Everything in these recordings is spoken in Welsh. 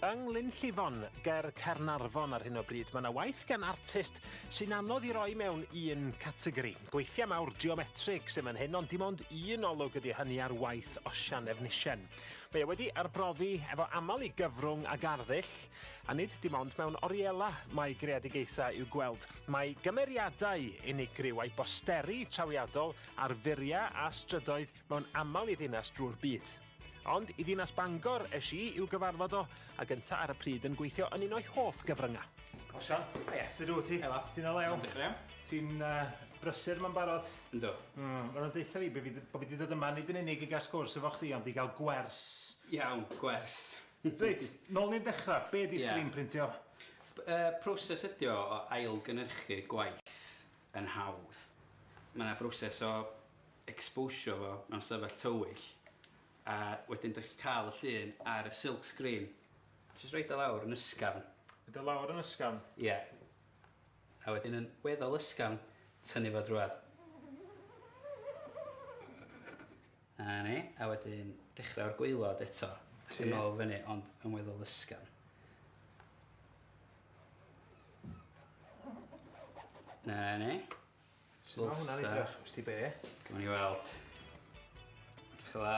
Yng Nglyn Llifon, ger Caernarfon ar hyn o bryd, mae yna waith gan artist sy'n anodd i roi mewn un categori. Gweithiau mawr geometrig sy'n fan hyn, ond dim ond un olwg ydy hynny ar waith Osian Efnisien. Mae e wedi arbrofi efo aml i gyfrwng a garddull, a nid dim ond mewn oriela mae greadigaethau i'w gweld. Mae gymeriadau unigryw a'i bosteri trawiadol ar furiau a strydoedd mewn aml i ddinas drwy'r byd. Ond i ddinas Bangor es i i'w gyfarfod o, a gynta ar y pryd yn gweithio yn un o'i hoff gyfryngau. O Sian. O ie. Sut wyt ti? Helo. Ti'n o lew? Iawn, diolch yn iawn. Ti'n uh, brysur ma'n barod? Yndw. Mm, Mae'n deitha fi bod fi, bo fi wedi dod yma nid yn unig i gael sgwrs efo chdi, ond i gael gwers. Iawn, gwers. Reit, nôl ni'n dechrau. Be di yeah. screen printio? Uh, proses ydi o o ailgynhyrchu gwaith yn hawdd. Mae yna broses o ecsbowsio fo mewn stafell tywyll a wedyn dych chi'n cael y llun ar y silk screen. Jyst roid o lawr yn ysgafn. Roid o lawr yn ysgafn? Ie. A wedyn yn weddol ysgafn, tynnu fo drwad. Na ni, a wedyn dechrau o'r gwaelod eto. Ac yn ôl fyny, ond yn weddol ysgafn. Na ni. Sut ma' hwnna'n edrych? Wst ti be'? Gawn ni weld. Edrych yn dda.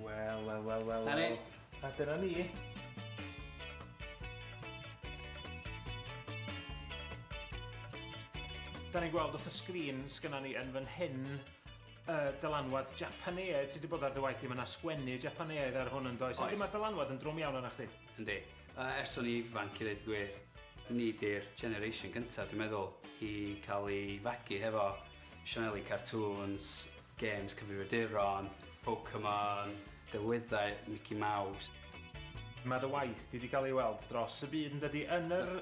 Wel wel wel wel wel. 'Na ni. A dyna ni. Da ni'n gweld wrth y sgrin sgynna ni yn fan hyn y dylanwad Japaneaidd sy' 'di bod ar dy waith di, ma' 'na sgwennu Japaneaidd ar hwn yndoes? Oes. Yndi ma'r dylanwad yn drwm iawn arna chdi. Yndi. Ers o'n i'n ifanc i ddeud y gwir, ni 'di'r generation gynta' dwi'n meddwl i cael ei fagu hefo sianeli cartŵns, gêms cyfrifiaduron, Pokemon, delweddau Mici Maws. Mae dy waith di 'di gael ei weld dros y byd yn dydi? Yn yr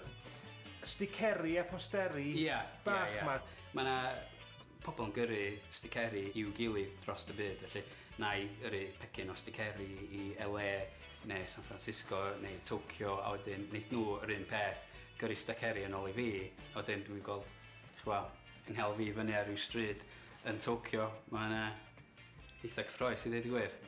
sticeri a posteri bach 'ma. Ie, ie, ie. Mae 'na Pobl yn gyrru sticeri i'w gilydd dros y byd, felly na i yrru pecyn o sticeri i LA neu San Francisco neu Tokyo a wedyn wneith nhw yr un peth, gyrru steceri yn ôl i fi a wedyn dwi'n gweld chwa, yng nghel fi fyny ar ryw stryd yn Tokyo, mae hynna eitha cyffroes i ddeud y gwir.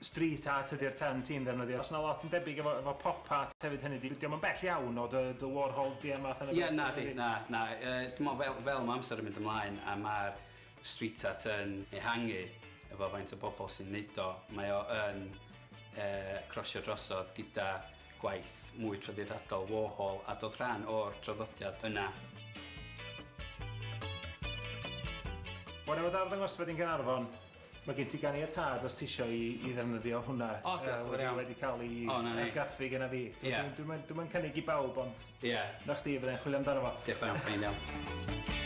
Street art ydy'r term ti'n ddefnyddio. Os yna lot yn debyg efo, efo pop art hefyd hynny ydi, dio'm yn bell iawn o dy, dy Warhol di a math yna beth? Ie, nadi, na, na. Yy, dwi me'wl fel, fel ma' amser yn mynd ymlaen a ma'r street art yn ehangu efo faint o bobl sy'n neud o, mae o yn yy crosio drosodd gyda gwaith mwy traddodiadol Warhol a dod rhan o'r traddodiad yna. Bore o dda arddangosfa di'n Gaernarfon. Mae gen ti ganiatâd os tisio i i ddefnyddio hwnna. O, diolch yn fawr iawn. Wedi wedi cael ei O, 'na ni. argraffu genna fi. T'mo', Ie. Dwi'm dwi'm yn dwi'm yn cynnig i bawb ond... Ie. ...'na chdi fydda i'n chwilio amdano fo. Diolch yn fawr iawn, ffeind iawn.